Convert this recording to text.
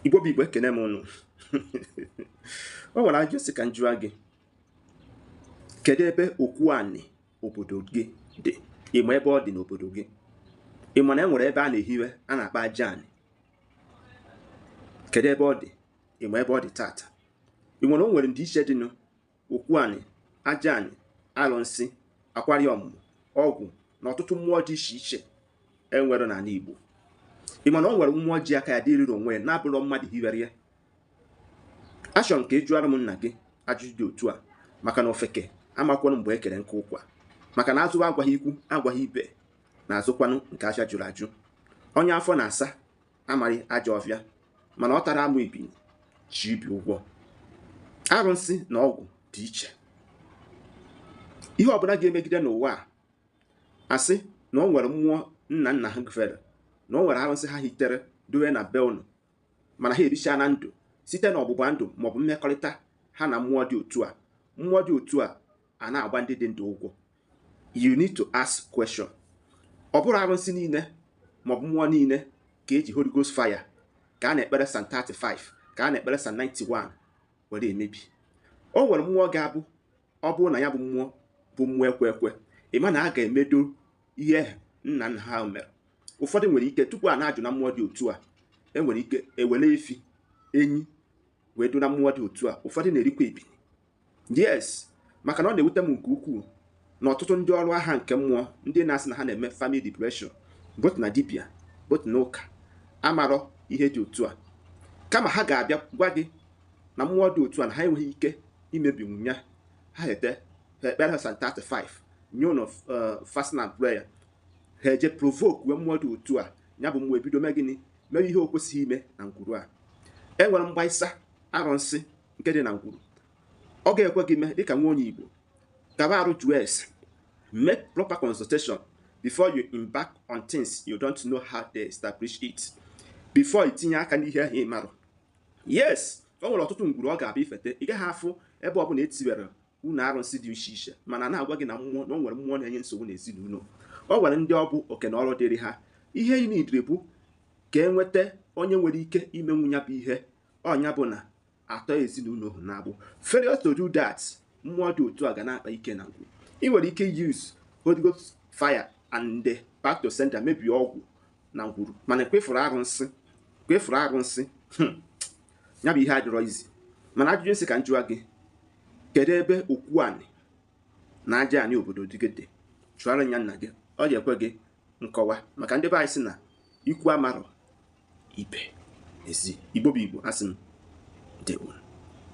igbo bụ igbo ekene m ụnụ o nwere ajụ sị ka m jụa gị kedu ebe okwu anị obodo gị dị ịma ebe ọ dị n'obodo gị ịma na e nwere ebe a na-ehiwe a na-akpọ aja anị kedu ebe ọ dị ịma ebe ọ dị tata ị nwere o nwere ndịiche dị na okwu anị aja anị alụnsị akwari ọmụmụ ọgwụ na ọtụtụ mmụọ dị iche iche enwere n'ala Igbo ị ma na o nwere mmụọ ji aka ya dịrịrị onwe ya na-abụrọ mmadụ hiwere ya achọ m ka ị jụara m nna gị ajụjụ dị otu a maka na ofeke amakwanụ mgbe e kere nkụ ụkwa maka na azụwa agwaghị ikwu agwaghị ibe na azụkwanụ nke ahịa jụrụ ajụ onye afọ na-asa amaghị ajọ ọfịa mana ọ tara amụ ebili ji ibi ụgwọ arụsị na ọgwụ dị iche ihe ọbụla ga-emegide n'ụwa a asị na o nwere mmụọ nna nna ha fere na o nwere arụsị ha hitere dowe na be unu mana ha erichana ndụ site na ọgbụgba ndụ maọbụ mmekọrịta ha na mmụọ dị otu a mmụọ dị otu a a na-agba ndị dị ndụ ụgwọ you need to ask question ọ bụrọ arụsị niile maọbụ mmụọ niile ka eji Holy Ghost fire ka a na-ekpere Psalm 35 ka a na-ekpere Psalm 91 were emebi o nwere mmụọ ga-abụ ọ bụrụ na ya bụ mmụọ bụ mmụọ ekwe ekwe ịma na a ga-emedo ihe nna nna ha mere ụfọdụ nwere ike tupu a na-ajụ na mmụọ dị otu a enwere ike ewere efi enyi wee do na mmụọ dị otu a ụfọdụ na-erikwa ebili yes maka na ọ na-ewute m nke ukwuu na ọtụtụ ndị ọrụ agha nke mmụọ ndị na-asị na ha na-eme family liberation both na dibia both na ụka amarọ ihe dị otu a kama ha ga-abịa gwa gị na mmụọ dị otu a na ha enweghị ike imebinwu ya ha ete ha ekpere ha Psalm 35 nye unu fasting and prayer ha eje provoke wee mmụọ dị otu a ya bụ mmụọ ebido mee gịnị mere ihe o kwesịghị ime na ngwuru a enwere mgbaisa arụnsị nke dị na ngwuru ọ ga-ekwe gị mee dịka nwa onye Igbo gaba ajụ jụọ ese make proper consultation before you embark on things you don't know how they establish it before i tinye aka n'ihe ahụ ị marọ yes o nwere ọtụtụ ngwuru ị ga-abịa ifete ị gaghị afụ ebe ọ bụla ehiwere ọnụ arụsị dị iche iche mana na-agwa gị na mmụọ na o nwere mmụọ na-enye nsogbu n'ezinụlọ o nwere ndị ọ bụ oke na ọrụ dịrị ha ihe ị nidiri bụ ka e nweta onye nwere ike imenwu ya bụ ihe ọ nya bụ na a tọọ ezinụlọ ahụ n'agbụ failure to do that mmụọ dị otu a ga na-akpa ike na ngwuru ị nwere ike use Holy Ghost fire and the back to sender mebie ọgwụ na ngwuru mana kwefuru arụnsị kwefuru arụnsị hmm. ya bụ ihe adịrọ easy mana ajụjụ m sị ka m jụọ gị kedu ebe okwu anị na aja anị obodo gị dị jụara ya nna gị ọ ga-ekwe gị nkọwa maka ndị be anyị sị na ikwu amarọ ibe ezi igbo bụ igbo asị m ndewo